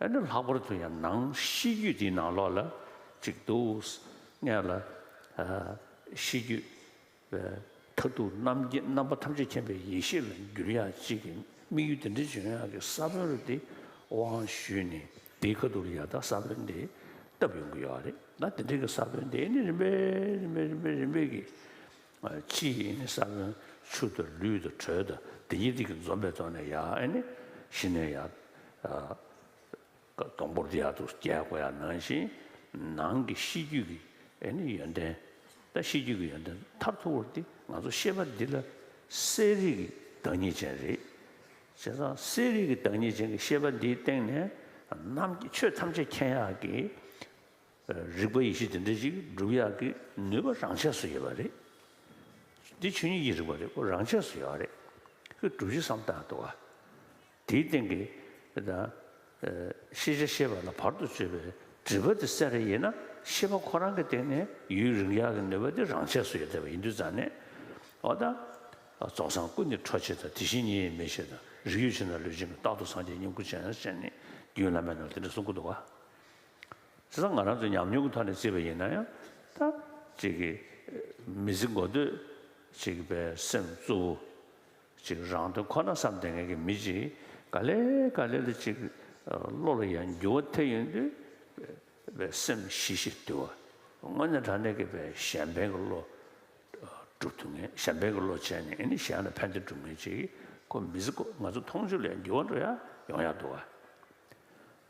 ཨེ་ནུ་ལྷག་པར་དུ་ཡང་ནང་གཤིས་རྒྱུད་འདིའི་ནང་ལོགས་ལ་གཅིག་འདུག། སྔས་ལ། གཤིས་རྒྱུད། མཐར་ཐུག་རྣམ་མཁྱེན་རྣམ་པ་ཐམས་ཅད་མཁྱེན་པའི་ཡེ་ཤེས་ལ་འགྱུར་ཡ་གཅིག་གི་དམིགས་ཡུལ་འདི་འདྲའི་འཇོན་ཡང་གི་ས་བོན་རུ་འདི་དབང་ཞུས་ནས་འདིའི་ཁ་ཐུག་ལ་ཡར་ལྟ་ས་བོན་འདི་བཏབ་ཡོང་གི་ཡོད་རེད་ད་འདི་འདྲའི་གི་ས་བོན་འདི་ནི་རིམ་པས་རིམ་པས་རིམ་པས་རིམ་པས་ཀྱི་ཕྱིས་ཡིན་ནི་ས་བོན་ཆུ་དང་ལུས་དང་དྲོད་དང་དེ་ཉིད་དེ་ཀྱི་འཛོམས་པའི་ཐོག་ནས་ཡང་ནི་ཤི་ནས་ཡང་སྡོང་པོར་ཡར་དུ་སྐྱེ་དགོས་ཡ་ནང་བཞིན་ནང་གི་ཤེས་རྒྱུད་ཀྱི་ཡོན་ཏན་དང་ཤེས་རྒྱུད་ཀྱི་ཡོན་ཏན་མཐར་ཐུག་པར་འདི་ང་ཚོ་ཤེས་པ་འདི་ལ་གསལ་རིག་གི་བདག་ཉིད་ཅན་རེད། བྱས་ཙང་གསལ་རིག་གི་བདག་ཉིད་ཅན་གྱི་ཤེས་པ་འདིའི་སྟེང་ནས་ནམ་ཆོས་ཐམས་ཅད་མཁྱེན་ཡག་གི། རིག་པ་ཡེ་ཤེས་དེ་འདྲ་ཞིག་བསྒྲུབ་ཡག་གི་ནུས་པ་རང་ཆས་སུ་ཡོད་པ་རེད། འདི་ཆོས་ཉིད་ཀྱི་རིག་པ་རེད་ཁོ་རང་ཆས་སུ་ཡོད་རེད། ཁོས་བསྒྲུབ་གཞི་བསམ་གཏན་དུ། དེའི་སྟེང་གི་ཤེས་བྱ་ཤེས་པ་ལ་བར་དུ་གཅོད་པའི་སྒྲིབ་པ་དེ་སེལ་རེ་ཡིན་ན་ཤེས་པ་ཁོ་རང་གི་སྟེང་ནས་ཡུན་རིང་ཡག་གི་ནུས་པ་དེ་རང་ཆས་སུ་ཡོད་བསྡད་པ་ཡིན་དུས་རྩ་ནས་འོ་ད། རྫོགས་སངས་སྐུ་ནི་འཕྲོ་ཆེ་དང་དེ་བཞིན་ཉིད་ཡིན་མི་ཤེས་དང་རིགས་ཡོད་ཕྱིར་ན་ལུས་ཅན་གྱི་རྟག་ཏུ་སངས་རྒྱས་སྙིང་པོ་ཅན་ནི་རྒྱུན་བླ་མས་ནང་དེ་འདྲ་གསུང་གི་འདུག་ག། བྱས་ཙང་ང་རང་ཚོ་ཉམས་མྱོང་གི་ཐོག་ནས་བརྩིས་པ་ཡིན་ན་ཡང་ད། ཅིག་གིས་མི་ཚེ་འགོ་སྡོད་ཅིག་པའི་སེམས་གཙོ་བོ། ཅིག་རང་དོན་ཁོ་ན་བསམ་དེ་ངེད་ཀྱི་མི་གཅིག་ག་ལེ་ག་ལེ་ལ་ཅིག་བློ་ལ་ཡང་འགྱུ་བ་དེ་ཡིན་དུས། བའི་སེམས་ཤིག་ཤིག་བསྡུ་བ། དངོས་གནས་དྲང་གནས་ཀྱི་བའི་གཞན་ཕན་གྱི་བློ། སྒྲུབ་ཐུབ་ངེས་གཞན་ཕན་གྱི་བློ་བྱས་ནས་ནི་གཞན་ལ་ཕན་དེ་སྒྲུབ་ངེས་ཅིག་གོ་མི་ཚེ་འགོ་ང་ཚོ་མཐོང་ཆོས་ལ་ཡང་འགྱུ་བ་འགྲོ་ཡ་ཡོང་ཡ་འདུག་བ།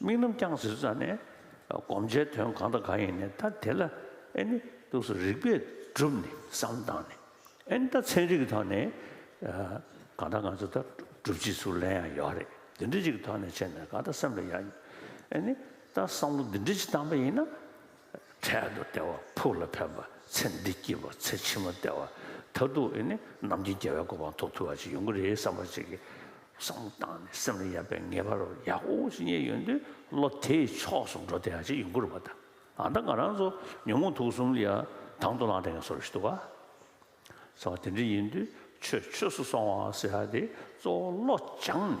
དམིགས་རྣམ་རྐྱང་ཟེར་ཙང་ནས་བསྒོམ་བྱའི་དོན་གང་དང་གང་ཡིན་ནས་ད་དེ་ལ་ཨེ་ནི་ཏུགས་སུ་རིགས་པས་བསྒྲུབས་ནས་བསམ་བཏང་ནས་ཨེ་ནི་ད་ཚན་རིག་གི་ཐོག་ནས་གང་ལྟར་ང་ཚོ་ད་སྒྲུབ་བྱེད་ཚུར་ལན་ཡང་ཡོད་རེད་འདི་འདྲ་ཅིག་གི་ཐོག་ནས་བྱས་ནས་གང་ལྟར་སེམས་ལ་ཡང་ཨེ་ནི་ད་བསམ་བློ་འདི་འདྲ་ཅིག་བཏང་པ་ཡིན་ན། འཕྲལ་དུ་ལྟེ་བ་ཕུགས་ལ་ཕན་པ་ཚེ་འདི་སྐྱིད་པ་ཚེ་ཕྱི་མ་བདེ་བ་ད་དུ་ཨེ་ནི་ནམ་རྒྱུན་རྒྱལ་བའི་གོ་འཕང་ཐོབ་ཐུབ་བ་ཞིག་ཡོང་གི་རེད་བསམ་པ་ཅིག་གིས་བསམ་བློ་བཏང་ནས་སེམས་ལ་ཡལ་བའི་ངེས་པ་རོ་ཡག་པོ་ཞིག་རྙེད་ཡོང་དུས་བློ་དེའི་ཕྱོགས་སུ་འགྲོ་བདེ་བ་ཅིག་ཡོང་གི་རུ་བ་དང་ཨ་མདའ་ང་རང་ཚོ་ཉོན་མོངས་དུག་གསུམ་ལ་དང་དུ་བླངས་དེ་ངས་སོར་བཞི་བཏུ་བ་ཟེར་བ་དེ་འདྲ་ཡིན་དུས་ཆོས་ཆོས་སུ་སོང་བ་ཟེར་བ་དེ་གཙོ་བོ་བློ་སྦྱངས་ནས།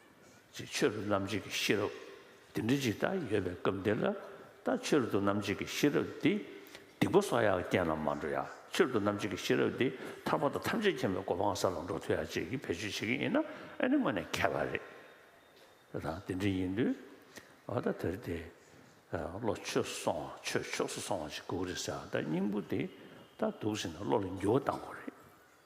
ཅེས་ཆོས་རབ་རྣམ་འབྱེད་ཀྱི་ཤེས་རབ་འདི་འདྲི་ཇི་ལྟར་ཡོད་པའི་སྐབས་འདི་ལ་ལྟ་ཆོས་རབ་ཏུ་རྣམ་འབྱེད་ཀྱི་ཤེས་རབ་འདི་སྡིག་པ་སོགས་ཡང་རྐྱེན་ལ་མ་འགྲོ་ཡང་ཆོས་རབ་ཏུ་རྣམ་འབྱེད་ཀྱི་ཤེས་རབ་འདི་ཐར་པ་དང་ཐམས་ཅད་མཁྱེན་པའི་གོ་འཕང་ས་ལ་འགྲོ་ཐུབ་ཡ་བཅས་ཀྱི་བེད་སྤྱོད་བྱེད་ཀྱི་ཡིན་ན་ཨེ་ནི་དངོས་ནས་ཁྱད་པར་རེད་ད་ཐང་དེ་འདྲི་ཡིན་དུས་ཨོ་ད་དེར་དེ་བློ་ཆོས་སོང་བ་ཆོས་ཕྱོགས་སུ་སོང་བ་ཞིག་དགོས་ཀྱི་རེད་ཟེར་བ་ལྟར་སྙིང་པོ་འདི་ལྟར་འདུག་ཟེར་ནས་བློ་ལ་འགྱུར་བ་བཏང་དགོས་རེད།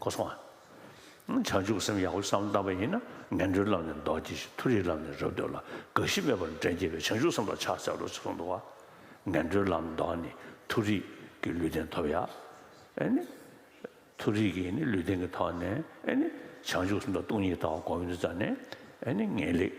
གོ་སོང། བྱང་ཆུབ་སེམས་ཡག་པོ་བསམ་བཏང་བ་ཡིན་ན་ངན་འགྲོའི་ལམ་ནས་འདོར་གྱིས་ཤིག་མཐོ་རིས་ལམ་ནས་རབ་འདོར་ལ་དགའ་བཞི་མེད་པར་འདྲེན་བསྐྱེད་པའི་བྱང་ཆུབ་སེམས་ལ་ཕྱག་འཚལ་ལོ་ཅེས་གསུངས་འདུག་བ། ངན་འགྲོའི་ལམ་འདོར་ནས་མཐོ་རིས་ཀྱི་ལུས་རྟེན་ཐོབ་ཡ། ཨེ་ནི། མཐོ་རིས་ཀྱི་ནི་ལུས་རྟེན་གྱི་ཐོག་ནས་ཨེ་ནི། བྱང་ཆུབ་སེམས་དང་སྟོང་ཉིད་དག་གོང་བུའི་རྩ་ནས་ཨེ་ནི་ངེས་ལེགས།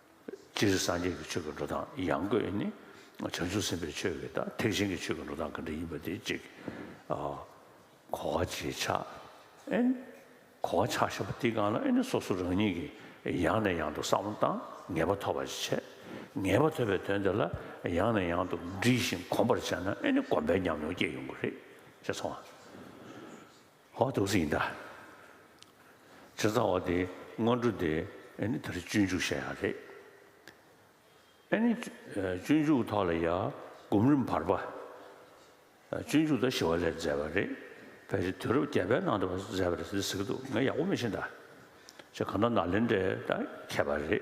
སྤྱིར་སངས་རྒྱས་ཀྱི་ཆོས་ཀྱི་འགྲོ་སྟངས་ཡང་སྒོས་ནི། བྱང་ཆུབ་སེམས་དཔའི་ཆོས་ཀྱི་ཐེག་ཆེན་གྱི་ཆོས་ཀྱི་འགྲོ་སྟངས་གང་འདྲ་ཡིན་པ་དེ་གཅིག། གོ་བ་བྱེད་ཆ། གོ་བ་ཆགས་ཞེས་པ་འདི་གང་ལ་ནི་སོ་སོ་རང་ཉིད་ཀྱིས་ཡང་ནས་ཡང་དུ་བསམ་བློ་བཏང་ངེས་པ་ཐོབ་པ་ཞིག་བྱས། ངེས་པ་ཐོབ་པའི་དོན་དེ་ལ་ཡང་ནས་ཡང་དུ་འདྲིས་ཤིང་གོམས་པར་བྱས་ན་ནི་གོམས་པའི་ཉམས་མྱོང་སྐྱེ་ཡོང་གི་རེད་ཅེས་སོང། ཧོ་ཐུགས་སྲས་ཡིན་ད། ཆེ་ཚ་བ་དེ་སྔོན་འགྲོ་དེ་ཨེ་ནི་ད་རེ་སྤྱོད་འཇུག་བཤད་ཡག་རེད། ཨེ་ནི་སྤྱོད་འཇུག་ཐོག་ལ་ཡ་སྒོམ་རིམ་བར་པ། སྤྱོད་འཇུག་ད་ཞི་བ་ལས་མཛད་པ་རེད་བས་རེད་དུས་རབས་བརྒྱད་པའི་ནང་དུ་བ་མཛད་པ་རེད་ཟེར་གི་འདུག་ང་ཡག་པོ་མི་ཤེས་ད། ཆ་གང་ད་ནཱ་ལེནྡྲའི་ད་མཁས་པ་རེད།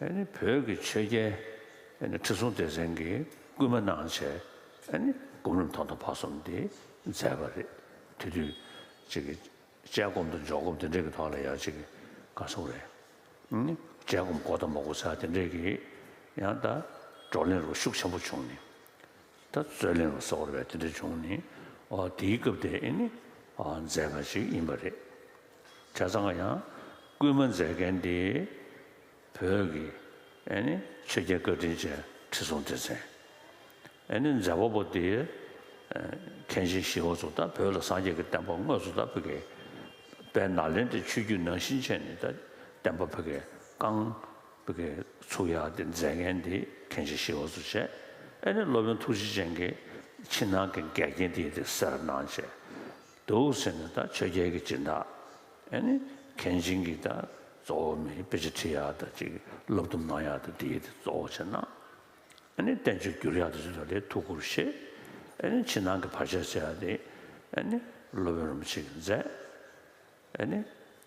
བོད་ཀྱི་ཆོས་རྒྱལ་ཁྲི་སྲོང་ལྡེ་བཙན་གྱིས་བསྐུལ་མ་གནང་བྱས་སྒོམ་རིམ་ཐོག་མཐའ་བར་གསུམ་དེ་མཛད་པ་རེད། དེ་དུས་ཅིག་དཔྱད་སྒོམ་དང་འཇོག་སྒོམ་དེ་འདྲའི་ཐོག་ལ་ཡང་ཅིག་དགའ་གསུང་རེད། དཔྱད་སྒོམ་གོ་དང་མ་གོ་ས་དེ་འདྲའི་གི་ཡང་ད་བགྲོ་གླེང་རོགས་ཤུགས་ཆེན་པོ་བྱུང་ནས། ད་རྩོད་གླེང་རོགས་སོགས་རེ་བ་དེ་འདྲ་བྱུང་ནས་དེའི་སྐབས་དེ་མཛད་པ་ཅིག་ཡིན་པ་རེད། བྱ་ཚང་ཡང་སྐུལ་མ་མཛད་མཁན་དེ་བོད་ཀྱི་ཆོས་རྒྱལ་བཀའ་དྲིན་ཅན་ཁྲི་སྲོང་ལྡེ་བཙན་མཛད་པ་པོ་དེའི་མཁན་ཆེན་ཞི་བ་གཙུག་བདག་བོད་ལ་སངས་རྒྱས་ཀྱི་བསྟན་པ་དངོས་སུ་དར་བོད་ཀྱི་པའི་ནཱ་ལེནྡྲའི་ཆོས་བརྒྱུད་ནང་བཞིན་ཆེན་ནས་བསྟན་པ་བོད་ཀྱི་བསྐང་བོད་ཀྱི་ཚུགས་གཡར་ཏེ་མཛད་མཁན་དེ་མཁན་ཆེན་ཞི་བ་གཙུག་བྱས་ཨེ་ནི་སློབ་དཔོན་ཐུགས་རྗེ་ཅན་གྱི་ཕྱི་ནང་གི་འགལ་རྐྱེན་དེ་ཡི་དེ་སེར་སྣང་བྱས། འདུག་ཟེར་ནས་དང་ཆོས་རྒྱལ་གྱི་སྤྱིན་བདག་ཨེ་ནི་གན་ཆིང་གིས་དང་གཙོ་བོ་མི་དཔེ་ཆ་འཁྲིད་ཡག་དང་ཅིག་སློབ་སྡོམ་གནང་ཡག་དང་འདི་དེ་གཙོ་བོ་བྱས་ན་ཨེ་ནི་བསྟན་བཅོས་བསྒྱུར་ཡག་དང་ཅིག་ལ་ལས་ཐུགས་ཁུར་བཞེས་ཨེ་ནི་ཕྱི་ནང་གི་བར་ཆད་སེལ་ཡག་དེ་ཨེ་ནི་སློབ་དཔོན་རིན་པོ་ཆེ་གི་མཛད་ཨེ་ནི།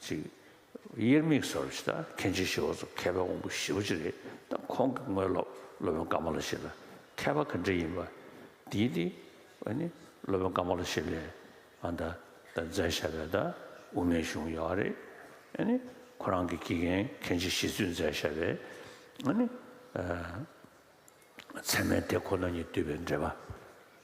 ཅིག། དབྱེར་མེད་གསར་བ་ཞིག་དང་མཁན་ཆེན་ཞི་བ་འཚོ་མཁས་པའི་དབང་པོ་བཞི་བ་ཅིག་རེད་དམ་ཁོང་གི་དངོས་སློབ་སློབ་དཔོན་ཀ་མ་ལ་ཤཱི་ལ་མཁས་པ་ག་འདྲ་ཡིན་པ་དེའི་སྟེང་ཨ་ནི་སློབ་དཔོན་ཀ་མ་ལ་ཤཱི་ལས་ཨ་ད་ད་མཛད་ཤ་བའི་ད་དབུ་མའི་གཞུང་ཡོད་ཨ་རེད་ཨ་ནི་ཁོ་རང་གི་དགེ་རྒན་མཁན་ཆེན་ཞི་བཙུན་མཛད་ཤ་བའི་ཨ་ནི་ཚད་མའི་དེ་ཁོ་ན་ཉིད་བསྡུས་པའི་འགྲེལ་པ།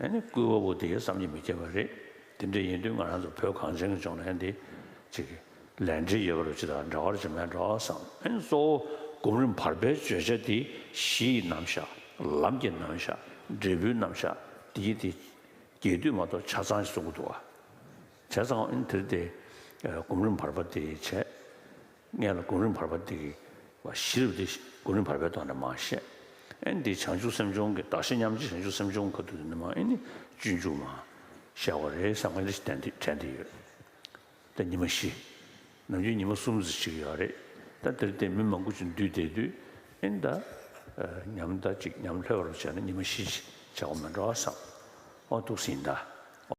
ཨེ་ནི་སྐུའི་དབའ་བོ་དེ་ཡིན་བསམ་གྱི་མི་སྐྱེ་བ་རེད། དེ་འདྲ་ཡིན་དུས་ང་རང་ཚོ་བོད་གངས་ཅན་གྱི་ལྗོངས་ནས་འདི་ཅིག་ལས་འབྲས་ཡོད་པ་རུ་ཅི་ལྟར་འདྲ་བར་ཅི་མི་འདྲ་བར་བསམ། ཨེ་ནི་གཙོ་བོ་སྒོམ་རིམ་བར་པའི་བརྗོད་བྱ་འདི་གཞི་ཡི་རྣམ་གཞག་ལམ་གྱི་རྣམ་གཞག་འབྲས་བུའི་རྣམ་གཞག་འདི་ཡིན་ཏེ། རྒྱས་བསྡུས་མ་གཏོགས་ཆ་ཚང་ཞིག་གསུང་གི་འདུག་བྱས་ཙང་ཨེ་ནི་དེར་དེ་སྒོམ་རིམ་བར་པ་དེ་བྱས། ལྔས་ལ་གོང་རིམ་བར་པ་འདི་གི་བ་བཞིར་བདེ་གཤེགས་གོང་རིམ་བར་པའི་དོགས་ནས་མ་བཤད། ཨན་འདི་བྱང་ཆུབ་སེམས་སྦྱོང་གི་དག་ཤེས་མཉམ་རྗེས་བྱང་ཆུབ་སེམས་སྦྱོང་ག་དུས་ནས་མ་ཨེ་ནི་སྤྱོད་འཇུག་མ། བཤད་བ་རེད་བསམ་ག་ལེ་ཞིག་དྲན་དེ་ཡོད། ད་ཉི་མ་བཞི། ནམ་རྒྱུན་ཉི་མ་གསུམ་ཟེར་ཞིག་ཡོད་རེད། ད་དེར་བརྟེན་མི་མང་པོ་ཅིག་འདུས་བསྡད་དུས་ཨེ་འདའ། ཉམས་ད་ཅིག་ཉམས་ལྷོད་བར་བྱས་ན་ཉི་མ་བཞི་ཞེས་བྱ་བ་མི་འདྲ་བ་བསམ། འོ་ཐུགས་ཟིན་འདའ།